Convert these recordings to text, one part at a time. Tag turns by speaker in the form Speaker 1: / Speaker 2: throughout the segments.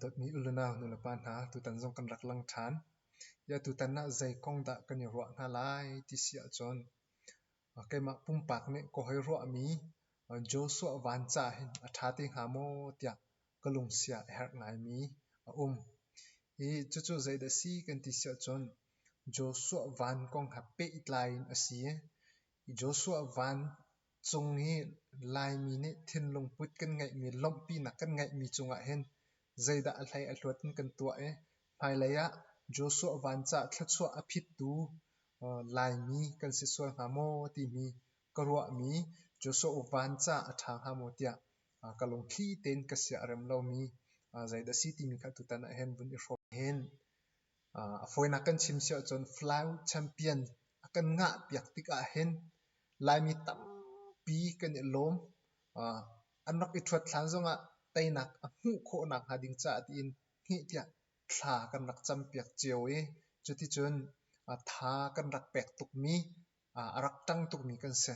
Speaker 1: dawtmi u le nau nulepa hna tutan zong kan rak lang ṭhan. Ya tutan ah zei kong dah kan i ruah hna lai ti si ahcun keimah pumpak nih ka hoi ruahmi Joshua van ca hin a ṭha te hnga maw tiah ka lungsiah a herh ngaimi a um. Hi cucu zeidah a si kan ti siah cun Joshua van kong ha pehtlai in a si. Joshua van cung i Laimi nih thinlung put kan ngeihmi, lawmhpinak kan ngeihmi cungah hin zeidah a hlei a hluat in kan tuah i hmailei ah Joshua van caah thluachuah a phittu Laimi kan si sual hnga maw timi ka ruahmi Joshua van caah a ṭha hnga maw tiah ka lungthli tein ka sia a rem lomi zeidah a si timi kha tutan ah hin vun i hrawm hen. A fawinak kan chim si ahcun flag champion a kan ngah piak tikah hin Laimi tampi kan i lawm. An rak i ṭhuat hlan zongah teinak a hmuh khawh nakhnga ding caah tiin hngih tiah thla kan rak campiak cio i cuticun tha kan rak pek tukmi a rak ṭang tukmi kan si.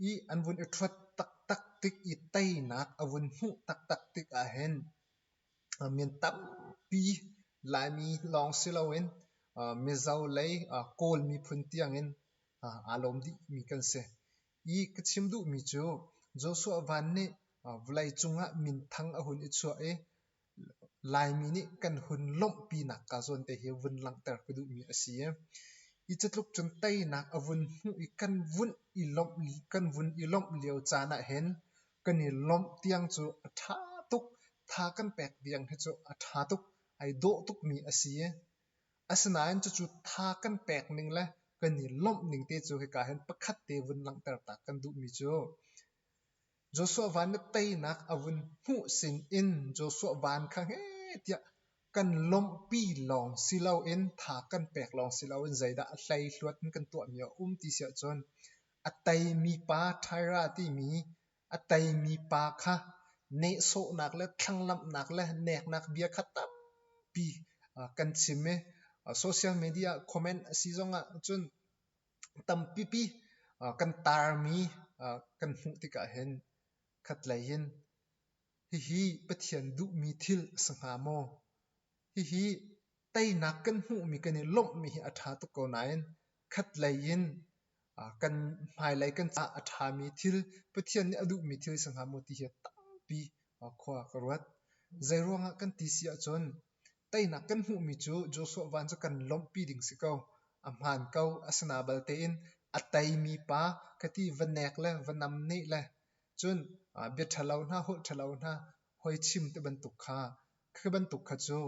Speaker 1: I an vun i ṭhuat taktak tik i teinak a vun hmuh taktak tik ahhin min tampi Laimi lawng si loin Mizo lei Kawl miphun tiangin aa lawm dihmi kan si. I ka chim duhmi cu Joshua Van nih vawleicung ah minthang a hun i chuah i Laimi nih kan hun lawmh pinak kaa zawn te hi vun langhter ka duhmi a si. Hi catluk cun teinak a vun hmuh i kan vun i lawmh, kan vun i lawmh lio caan ahhin kan i lawmh tiang cu a ṭha tuk. Tha kan pek tiang hi cu a ṭha tuk, ai dawh tukmi a si. Asinain cucu tha kan pek ning le kan i lawmh ning te cu hika hin pakhat te vun langhter ta kan duhmi cu. Joshua van na teinak a vun hmuh sinin Joshua van kha heh tiah kan lawmhpi lawng si loin tha kan pek lawng si loin zeidah a hleihluat in kan tuahmi a um ti si ahcun a teimi pa Tyra timi a teimi pa kha nehsawhnak le thlanglamhnak le neknak bia kha tampi kan chim i social media comment a si zongah cun Tampipi kan taarmi kan hmuh tikah hin khatlei in hihi Pathian duhmi thil a si hnga maw? Hihi teinak kan hmuhmi kan i lawmhmi hi a ṭha tuk ko nain khatlei in kan hmailei kan caah a ṭhami thil, Pathian nih a duhmi thil a si hnga maw ti hi tampi khua ka ruat. Zeiruangah kan ti si ahcun Teinak kan hmuhmi cu Joshua van cu kan lawmhpi ding si ko. A hmaan ko. Asinaval tein a teimi pa ka ti va nek le va nam nih le cun bia ṭhalo hna, holh ṭhalo hna hoi chim ti bantuk kha. Khi bantuk kha cu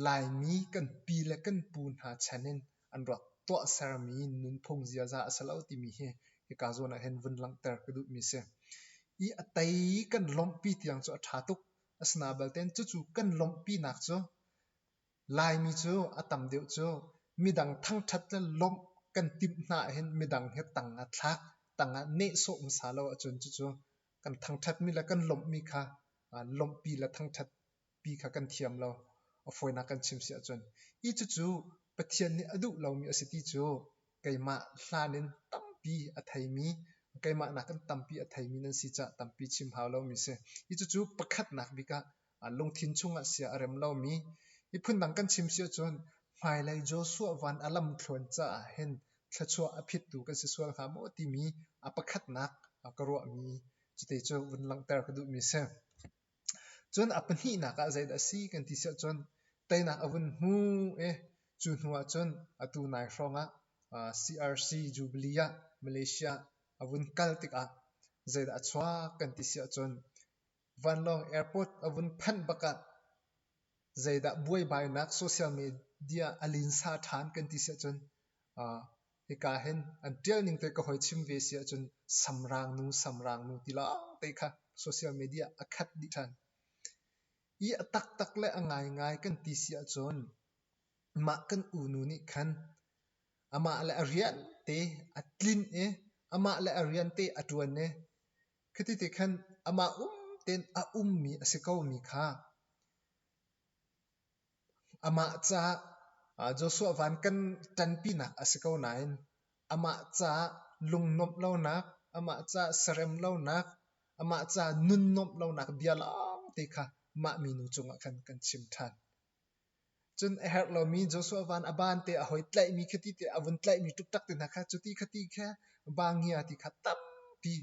Speaker 1: Laimi kan pi le kan pu hna chan in an rak tuahsermi nunphung ziaza a si lo timi hi hika zawn ah hin vun langhter ka duhmi si. I a tei kan lawmhpi tiang cu a ṭha tuk. Asina belte cucu kan lawmhpinak cu Laimi cu a tam deuh cu midang thangṭhat le lawmh kan timh hna ahhin midang hi tang ah thlak, tang ah nehsawh hmasa lo ahcun cucu kan thangṭhatmi le kan lawmhmi kha lawmhpi le thangṭhatpi kha kan thiam lo. A fawinak kan chim si ahcun. Hi cucu Pathian nih a duh lomi a si ti cu Keimah hlan in tampi a theimi, keimah nakin tampi a theimi nan si caah tampi chim hau lomi si. Hi cucu pakhatnak bik ah lungthin chungah sia a rem lomi. Miphun dang kan chim si ahcun hmailei Joshua van a lam thluan caah hin thluachuah a phittu kan si sual hnga maw timi a pakhatnak ka ruahmi cuti cu vun langhter ka duhmi si. Cun a pahnihnak ah zeidah a si kan ti siah cun teinak a vun hmu i cu hnu ah cun atu nai hrawng ah CRC Jubilee ah Malaysia ah a vun kal tikah zeidah a chuak kan ti siah cun vanlawng airport a vun phanh bak ah zeidah buaibainak social media a linsa ṭhan kan ti siah cun Hika hin an ṭial ning te ka hoi chim ve si ahcun samrang nu samrang nu ti lawngte kha social media a khat dih ṭhan. I a taktak le a ngaingai kan ti si ahcun mah kan unu nih khan amah le a rian te a tlin i amah le a rian te a ṭuan i khiti ti khan amah um tein a ummi a si komi kha Amah caah Joshua van kan ṭanpinak a si ko nain amah caah lungnuamh lonak, amah caah sarem lonak, amah caah nunnuamh lonak bia lawngte kha mah minu cungah khan kan chim ṭhan. Cun a herh lomi Joshua van a ban te a hoi tlaihmi khi ti ti a vun tlaihmi ṭukṭak te hna kha cu ti kha ti kha bangia ti kha tampi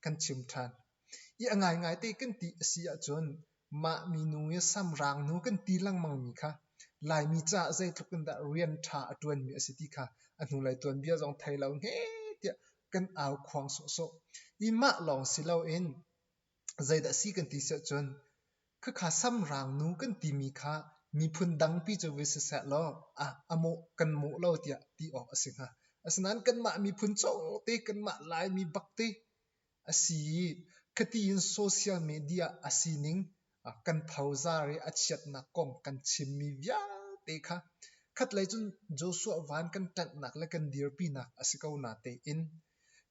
Speaker 1: kan chim ṭhan. I a ngaingai te kan ti a si ahcun mah minu i samrangnu kan ti lengmangmi kha Laimi caah zeitluk in dah rian ṭha a ṭuanmi a si ti kha a hnulei tuanbia zong thei lo hme tiah kan au khuang sawhsawh. I mah lawng si loin zeidah si kan ti si ahcun Khakha samrangnu kan timi kha miphun dangpi cu vi siseh law a mawh kan mawh lo tiah ti awk a si hnga. Asinain kanmah miphun cawngte, kanmah Laimi bakte a si i khati in social media a sining kan phozar i a chiatnak kong kan chimmi vialte kha khatlei cun Joshua van kan ṭanhnak le kan dirpinak a si ko na tein,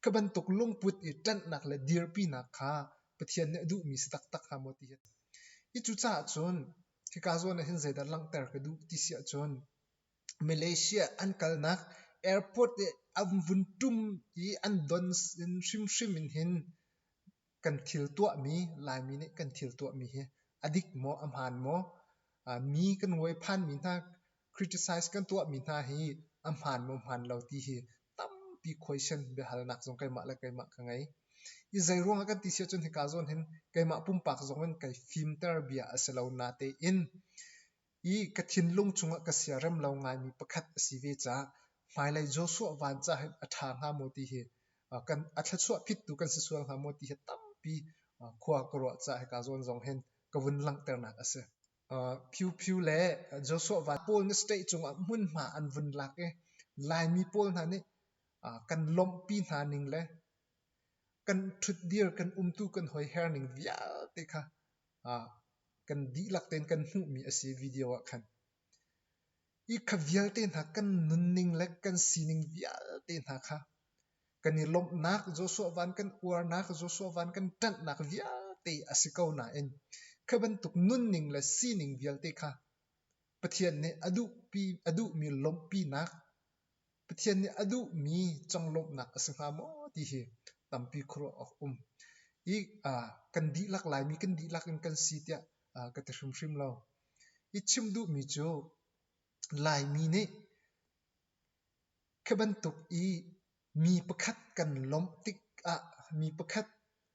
Speaker 1: kha bantuk lungput i ṭanhnak le dirpinak kha Pathian nih a duhmi si taktak hnga maw ti hi a si. Hi cucaah cun hika zawn ahhin zeidah langhter ka duh ti si ahcun Malaysia an kalnak airport i an vun ṭum i an don in hrimhrim in hin kan thil tuahmi Laimi nih kan thil tuahmi hi a dik maw, a hmaan maw? mi kan hnuai phanmi hna Criticise kan tuahmi hna hi a hmaan maw hmaan lo ti hi tampi question biahalnak zong keimah le keimah ka ngei. I zeiruang ah kan ti si ahcun hika zawn hin keimah pumpak zong in kai fimter bia a si lo natein i ka thinlung chungah ka siarem lo ngaimi pakhat a si ve caah hmailei Joshua van ca hin a ṭha hnga maw ti hi uh, kan a thluachuah phittu kan si sual hnga maw ti hi tampi uh, khua ka ruah caah hika zawn zong hin ka vun langhternak a si. Phiuphiu le Joshua van pawl na state cungah hmunhma an vun lak i Laimi pawl hna nih kan lawmhpi hna ning le kan ṭhutdir kan umtu kan hoiher ning vialte kha kan dihlak tein kan hmuhmi a si video ah khan. Hi kha vialte hna kan nunning le kan sining vialte hna kha Kan i lawmhnak, Joshua van kan uarnak, Joshua van kan ṭanhnak vialte a si ko nain khi bantuk nunning le sining vialte kha Pathian nih a duhpi a duhmi lawmhpinak, Pathian nih a duhmi conglawmhnak a si hnga maw ti hi tampi khuaruah awk um. I uh, kan dihlak Laimi kan dihlak in kan si tiah uh, ka ti hrimhrim lo. I chim duhmi cu Laimi nih Khi bantuk i mi pakhat kan lawmh tikah, mi pakhat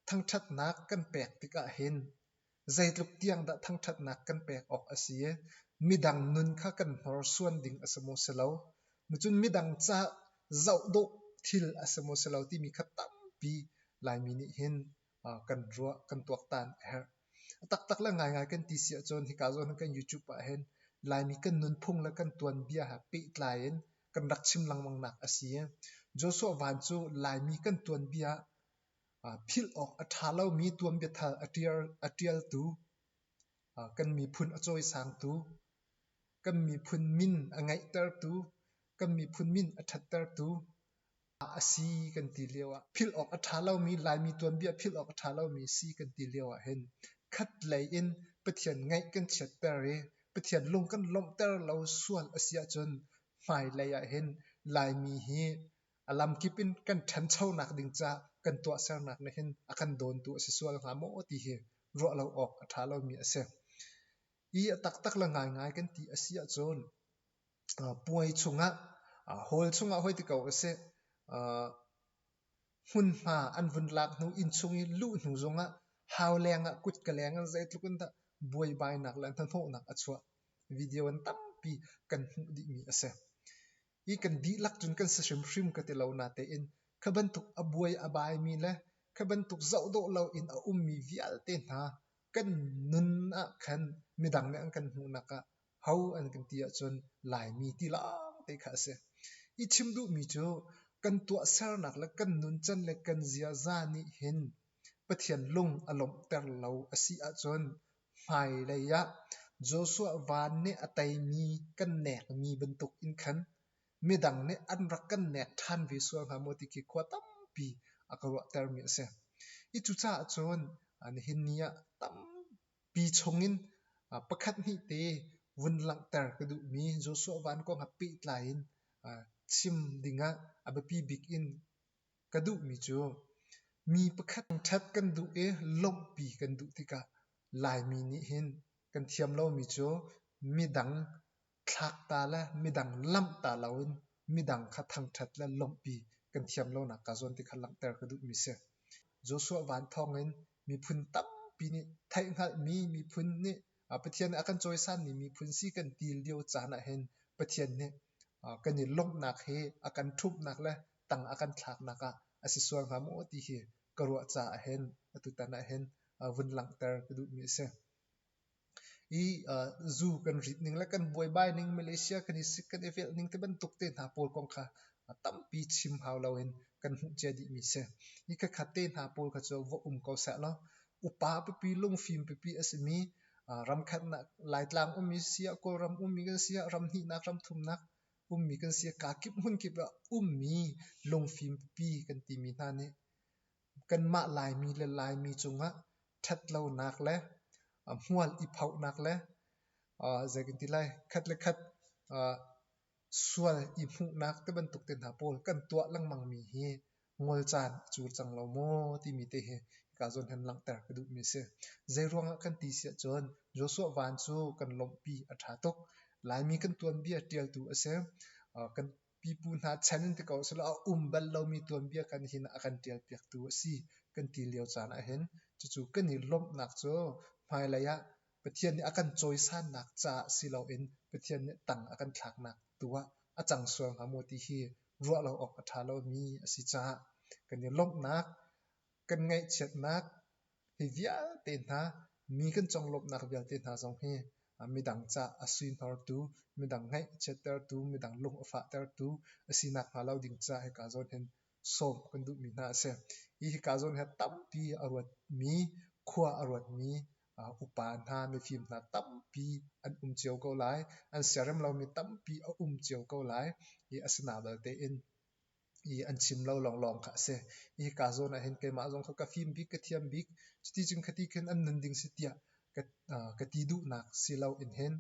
Speaker 1: thangṭhatnak kan pek tikah hin zeitluk tiang dah thangṭhatnak kan pek awk a si? Midang nun kha kan hnorsuan ding a si maw si lo? Cun midang ca zoh dawh thil a si maw si lo timi kha tampi Laimi nih hin kan ruah kan tuaktan a herh. A taktak le ngaingai kan ti si ahcun hika zawn hin kan YouTube ah hin Laimi kan nunphung le kan tuanbia he pehtlai in kan rak chim lengmangnak a si. Joshua Van cu Laimi kan tuanbia philh awk a ṭha lomi tuanbia thar a ṭial a ṭialtu, kan miphun a cawisangtu, kan miphun min a ngeihtertu, kan miphun min a ṭhattertu, a si kan ti lio ah philh awk a ṭha lomi Laimi tuanbia philh awk a ṭha lomi si kan ti lio ahhin khat lei in Pathian ngaih kan chiatter i Pathian lung kan lawmhter lo sual a si ahcun hmailei ahhin Laimi hi a lamkip in kan ṭhanchonak ding ca kan tuahsernak nih hin a kan dawntu a si sual hnga maw ti hi ruah lo awk a ṭha lomi a si. I a taktak le ngaingai kan ti a si ahcun puai chungah hall chungah hoi ti ko usih hmunhma an vun lak hnu inn chung i luh hnu zongah hau lengah kutka lengah zeitluk in dah buaibainak le hnahnawhnak a chuah video an tampi kan hmuh dihmi a si i kan dihlak cun kan si hrimhrim ka ti lo natein kha bantuk a buai a baimi le kha bantuk zoh dawh loin a ummi vialte hna kan nun ah khan midang nih an kan hmuhnak ah ho an kan ti ahcun Laimi ti lawng te kha a si. I chim duhmi cu kan tuahsernak le kan nuncan le kan ziaza nih hin Pathian lung a lawmhter lo a si ahcun hmailei ah Joshua van nih a teimi kan nekmi bantuk in khan midang nih an rak kan nek ṭhan ve sual hnga maw ti khi khua tampi a ka ruahtermi a si. I cucaah cun nihin ni ah tampi pi chungin pakhat hnih te vun langhter ka duhmi Joshua Van kong ah pehtlai in chim dingah a biapi bik in ka duhmi cu mi pakhat ṭhat kan duh i lawmhpi kan duh tikah Laimi nih hin kan thiam lomi cu midang Thlakta le midang lamhta loin midang kha thangṭhat le lawmhpi kan thiam lonak kaa zuam ti kha langhter ka duhmi si. Joshua van thawngin miphun tampi nih theihhngalhmi miphun nih Pathian nih a kan cawisanmi miphun si kan ti lio caan ahhin Pathian nih kan i lawmhnak hi a kan ṭhumhnak le tang a kan thlaknak ah a si sual hnga maw ti hi ka ruah caah hin atutan ahhin vun langhter ka duhmi a si. Zuu kan rit ning le kan buaibai ning, Malaysia kan i sik, kan i velh ning tibantuk te hna pawl kong kha tampi chim hau loin kan hmuh cia dihmi si. Hi khat te hna pawl kha cu va um ko sehlaw, upa pipi, lungfim pipi a simi, ramkhatnak Laitlang ummi si ah, Kawlram ummi kan si ah, ram hnihnak, ram thumnak ummi kan si ah, kaa kip hmun kip ah ummi lungfim pipi kan timi hna nih kanmah Laimi le Laimi cungah ṭhatlonak le hmual i phohnak le zei kan ti lai khat le khat sual i hmuhnak ti bantuk te hna pawl kan tuah lengmangmi hi ngol caan a cul cang lo maw timi te hi hika zawn hin langhter ka duhmi a si. Zeiruangah kan ti si ahcun Joshua Van cu kan lawmhpi a ṭha tuk. Laimi kan tuanbia ṭialtu a si. Kan pipu hna chan in ti ko sehlaw a um bal lomi tuanbia kan hin a kan ṭialpiaktu a si kan ti lio caan ahhin cucu kan i lawmhnak cu hmailei ah Pathian nih a kan cawisannak caah si loin Pathian nih tang a kan thlaknak tu ah a cang sual hnga maw ti hi ruah lo awk a ṭha lomi a si caah kan i lawmhnak kan ngaihchiatnak Hi vialte hna, mi kan conglawmhnak vialte hna zong hi midang ca a suihnawrtu, midang ngaihchiattertu, midang lung a fahtertu a si nakhnga lo ding caah hika zawn hin sawm kan duhmi hna a si. Hi hika zawn hi tampi a ruatmi, khua a ruatmi upa hna, mifim hna tampi an um cio ko lai. An siarem lomi tampi a um cio ko lai. Hi a si hna belte in i an chim lo lawnglawng kha a si. Hi kaa zawn ah hin keimah zong kha ka fim bik, ka thiam bik. Cuticun khati khin an nun ding si tiah ka, uh, ka ti duhnak si lo in hin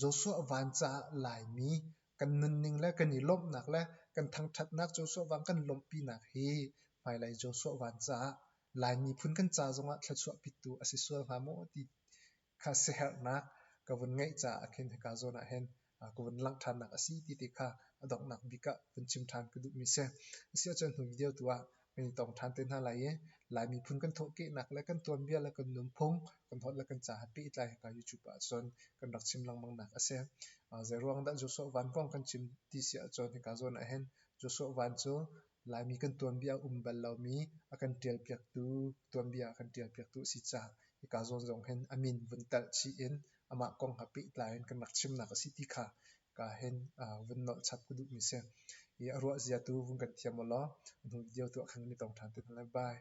Speaker 1: Joshua van caah Laimi kan nunning le kan i lawmhnak le kan thangthatnak Joshua vang kan lawmhpinak hi hmailei Joshua van caah Lai miphun kan ca zongah thluachuah pittu a si sual hnga maw ti kha siaherhnak ka vun ngeih caah khin hika zawn ah hin ka vun langh ṭhannak a si ti ti kha a donghnak bik ah vun chim ṭhan ka duhmi si. A si ahcun hnu video tu ah kan i tong ṭhan te hna lai i Lai miphun kan thawhkehnak le kan tuanbia le kan nunphung kan holh le kan ca he pehtlai hika YouTube ah cun kan rak chim lengmangnak a si. Zeiruang dah Joshua Van kong kan chim ti si ahcun hika zawn ah hin Joshua Van cu Laimi kan tuanbia a um bal lomi a kan ṭialpiaktu tuanbia a kan ṭialpiaktu a si caah hika zawn zong hin a min vun talh chih in amah kong ha pehtlai in kan rak chimnak a si ti kha ka hin vun nolh chap ka duhmi a si. Hi a ruah zia tu vun kan thiam ulaw a hnu video tuah khan kan i tong ṭhan te hna lai. Bye.